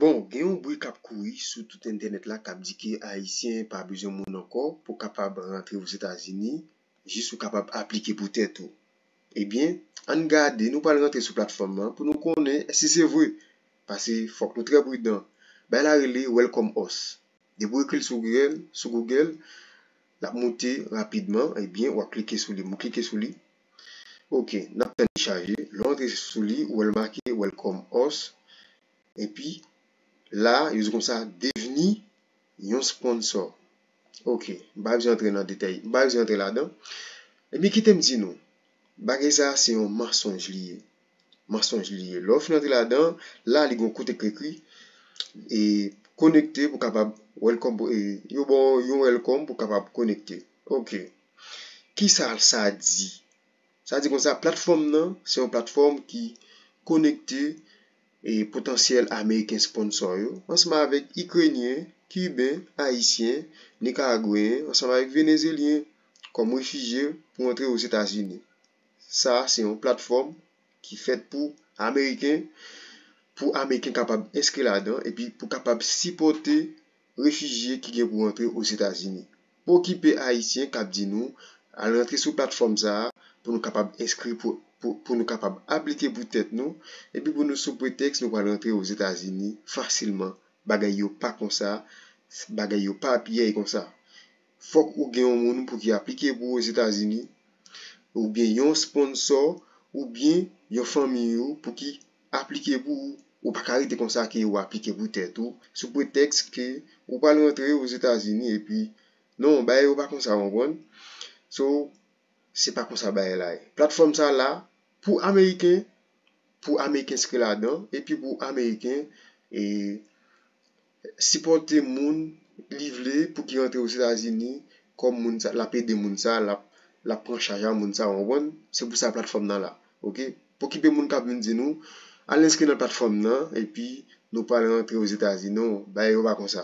Bon, gen yon bri k ap kouri sou tout entènèt la k ap di ke Ayisyen pa bezwen moun ankò pou kapab rantre Ozetazini, jis ou kapab aplike pou tèt ou. Ebyen, ann gade, nou pral rantre sou platfòm lan pou nou konnen si se vre, pase fòk nou trè pridan. Bay la rele Welcome Us. Depi w ekri l sou Google, l ap moute rapidman, ebyen w ap klike sou li. M klike sou li. Ok nap tann li chaje, lè w antre sou li ou wè l make welcome us epi la yo di konsa devni yon sponsor ok m pa bezwen antre nan detay m pa bezwen antre ladan ebyen kite m di nou bagay sa se yon mansonj li ye mansonj li ye lè w fin antre ladan la li gen yon kote k ekri e konekte pou kapab welcome yo ba w yon welcome pou kapab konekte ok. Ki sa sa di? Sa di konsa, platfòm nan se yon platfòm ki konekte e potansyèl ameriken sponsò yo ansanm avèk ikrenyen, kiben, ayisyen, nikaragweyen ansanm avèk venezelyen kòm refijye pou antre Ozetazini. Sa se yon platfòm ki fèt pou ameriken, pou ameriken kapab enskri ladan epi pou kapab sipòte. Refijye ki gen pou antre Ozetazini. Pokipe Ayisyen kap di nou, al rantre sou platfòm sa a pou nou kapab enskri pou pou nou kapab aplike pou tèt nou epi pou nou sou pretèks nou pral rantre Ozetazini fasilman bagay yo pa konsa bagay yo pa pyèy konsa fòk ou gen yon moun pou ki aplike pou Ozetazini oubyen yon sponsò oubyen yon fanmiy ou pou ki aplike pou ou, ou pa ka rete konsa ke ou aplike pou tèt ou, sou pretèks ke ou pral rantre Ozetazini epi, non, bagay yo pa konsa ou konprann. So, se pa konsa bagay la ye. Platfòm sa la pou Ameriken, pou Ameriken enskri ladan epi pou Ameriken e. Sipòte moun li vle pou ki rantre Ozetazini kòm moun sa, lap ede moun sa, lap lap pran chaj a moun sa ou konprann, se pou sa platfòm nan la ok. Pokipe moun kap vin di nou al enskri nan platfòm nan epi nou pral rantre Ozetazini non, bagay yo pa konsa